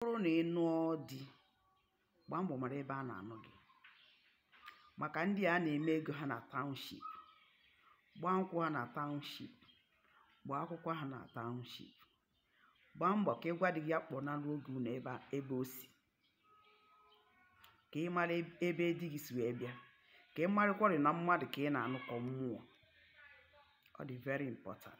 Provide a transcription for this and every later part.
bụrụ na ị nụọ di gbaa mbọ mara ebe a na-anụ gị maka ndị a na-eme ego ha na township gbaa nkwụ ha na township gbaa akwụkwọ ha na township gbaa mbọ ka ị gwa di gị ya kpọnaruo gị ụnọ ebe a- ebe o si ka ị mara eb- ebe di gị si wee bịa ka ị marịkwarị na mmadụ ka ị na-anụ ka ọ mmụọ ọ dị very important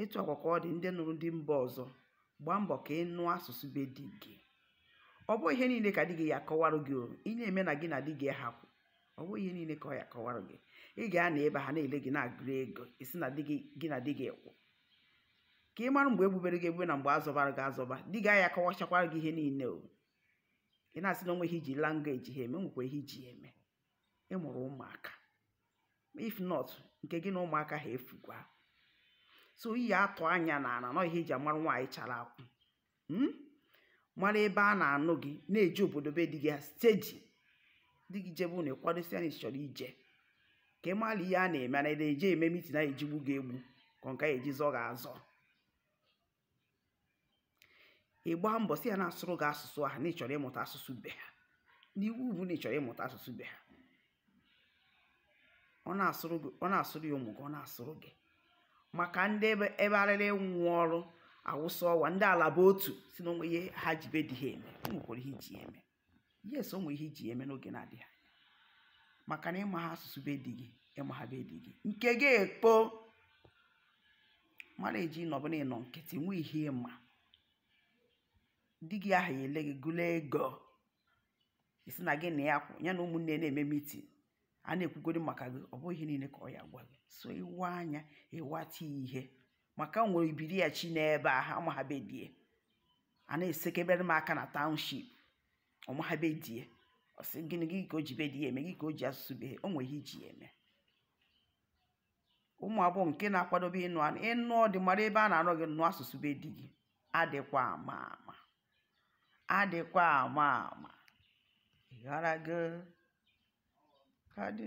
etu a kwa ka ọ dị ndị nụrụ di mba ọzọ gbaa mbọ ka ị nụa asụsụ be di gị ọ bụ ihe niile ka di gị ya akọwarụ gị o ị na-eme na gị na di gị hapụ ọ bụ ihe niile ka ọ ya akọwarụ gị ị ga-anọ ebe ha na-ele gị na-agụrụ ego ị sị na di gị gị na di gị kwụ ka ị mara mgbe e gbubere gị egbube na mgbe a zọbara gị azọba di gị aya akọwachakwara gị ihe niile o ị na-asị na o nwe ihe i ji language ha eme nwekwa ihe i ji ya eme ị mụrụ ụmụaka if not nke gị na ụmụaka ha efukwa so ị ya-atọ anya n'ana na ọ ihe e ji amara nwaanyị chara akwụ hmm? mara ebe a na-anụ gị na-eje obodo be di gị steady di gị jebe ụnọ ị kwado sị ya na ị chọrọ ije ka ị mara ihe a na-eme na-eje eme meeting a ya-eji gbuo gị egbu ka ọ nke a ya-eji zọọ gị azọ ị gbaa mbọ sị ya na-asụrụ gị asụsụ ahụ na ị chọrọ ịmụta asụsụ be ha n'iwu bụ na ị chọrọ ịmụta asụsụ be ha ọ na-asụrụ ya ụmụ gị ọ na-asụrụ gị maka ndị ebe ebe arịrị nwụ ọrụ awụsa ọwa ndị alaba otu sị na o nwe ihe ha ji be di ha eme o nwekwara ihe i ji ya eme yes o nwere ihe i ji eme n'oge na-adịghị anya maka na ị maha asụsụ be di gị ị maha be di gị nke gị ekpo mara eji nọ bụ na ị nọ nkịtị nwe ihe ị ma di gị ahụ ya ele gị gụla ego ị sị na gị na ya kwụ ya na ụmụnne na-eme meeting a na-ekwugodi maka gị ọ bụghị ihe niile ka ọ ya gwa gị so ị waa anya ị wata ihe maka nwere ibiri ya chi n'ebe a ha amaha be die a na-esekebere m aka na township ọ maha be die ọ sị gịnị gị ka o ji be die eme gị ka o ji asụsụ be o nwere ihe i ji ya eme ụmụ agbọghọ nke na-akwadobe ịnụ anụ ịnụ di mara ebe a na-anụ gị nụ asụsụ be di gị adịkwa ama ama adịkwa ama ama ị ghọtago di